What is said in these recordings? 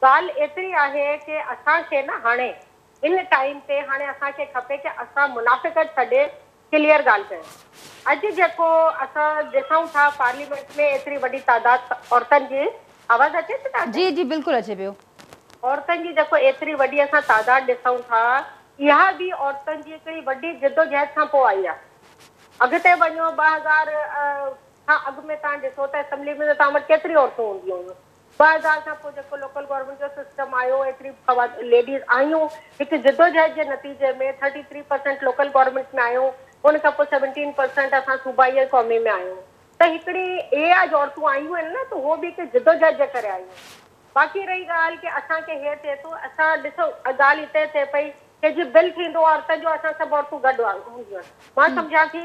ڳالهه ايتري آهي ڪي اسان کي نه هاڻي هن ٽائيم تي هاڻي اسان کي کپي ڪي اسان منافقت ڇڏي ڪليئر ڳالهه ڪيون. اڄ جيڪو اسان ڏسون ٿا پارليمينٽ ۾ ايتري وڏي تعداد عورتن جي آواز اچي ٿي تان کي؟ جي جي بلڪل اچي پيو. عورتن جي جيڪو ايتري وڏي اسان تعداد ڏسون ٿا اها به عورتن جي هڪڙي وڏي جدوجهد کان پوء آئي آهي. اڳتي وڃو ٻه هزار کان اڳ ۾ تان ڏسو ته اسمبلي ۾ تان وٽ ڪيتري عورتون هونديون هيون. بهر حال کان پوء جيڪو لوڪل گورنمينٽ جو سسٽم آيو ايتري خوات ليڊيز آيون هڪ جدوجهد جي نتيجي ۾ thirty three percent local government ۾ آيون ان کان پوء سيونٽين پرسينٽ اسان صوبائي ۽ قومي ۾ آيون ته هڪڙي اهي آ جو عورتون آيون آهن نه ته هو به هڪ جدوجهد جي ڪري آيون باقي رهي ڳالهه ڪي اسان کي هي ٿئي ٿو اسان ڏسو ڳالهه هتي ٿئي پئي ڪي جي بل ٿيندو عورتن جو اسان سڀ عورتون گڏ هونديون آهن مان سمجهان ٿي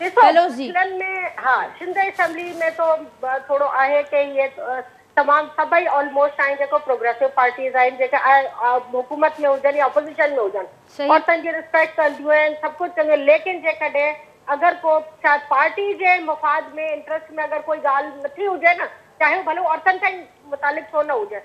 ڏسو هنن ۾ ها سنڌ اسيمبلي ۾ تو ٿورو آهي ڪي هي تمام سڀئي آلموسٽ آهن جيڪو پروگريسو پارٽيز آهن جيڪي حڪومت ۾ هجن يا اپوزيشن ۾ هجن عورتن جي رسپيڪٽ ڪنديون آهن سڀ ڪجهه ڪنديون ليڪن جيڪڏهن اگر ڪو چاهي پارٽي جي مفاد ۾ انٽرسٽ ۾ اگر ڪوئي ڳالهه نٿي هجي نه چاهي هو ڀلو عورتن سان ئي متعلق ڇو نه هجي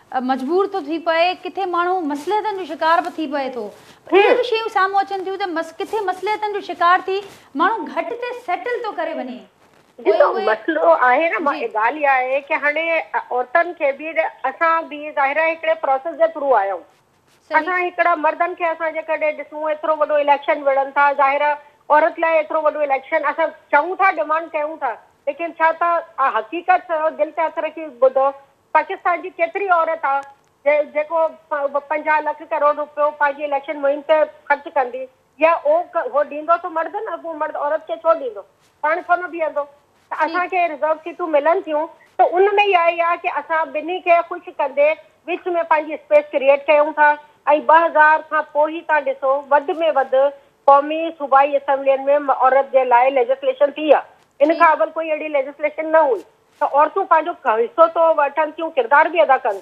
مجبور ٿو ٿي پئي، ڪٿي ماڻهو مصلحتن جو شڪار به ٿي پئي ٿو. اهي به شيون سامهون اچن ٿيون ته ڪٿي مصلحتن جو شڪار ٿي ماڻهو گهٽ تي سيٽل ٿو ڪري وڃي. ڏسو مسئلو آهي نه ڳالهه اها آهي ڪي هاڻي عورتن کي به اسان به ظاهر آهي هڪڙي پروسيس جي ٿرو آيا آهيون. اسان هڪڙا مردن کي اسان جيڪڏهن ڏسون ايترو وڏو اليڪشن وڙهن ٿا ظاهر آهي عورت لاء ايترو وڏو اليڪشن اسان چئون ٿا ڊمانڊ ڪيون ٿا ليڪن ڇا تان حقيقت سان دل تي هٿ رکي ٻڌو پاڪستان جي ڪيتري عورت آ جيڪو پنجاهه لک ڪروڙ روپيو پنهنجي اليڪشن مهم تي خرچ ڪندي يا اهو ڏيندو ته مرد نه اڳو مرد عورت کي ڇو ڏيندو پاڻ ڇو نه بيهندو ته اسان کي رزرو سيٽون ملن ٿيون ته ان ۾ اها ئي آ ڪي اسان ٻنهي کي خوش ڪندي وچ ۾ پنهنجي اسپيس ڪريئيٽ ڪيون ٿا ۽ ٻه هزار کان پوء هي تان ڏسو وڌ ۾ وڌ قومي صوبائي اسيمبلين ۾ عورت جي لاء ليجسليشن ٿي آ. ان کان اول ڪوئي اهڙي ليجسليشن نه هئي ته عورتون پنهنجو حصو ته وٺن ٿيون ڪردار به ادا ڪن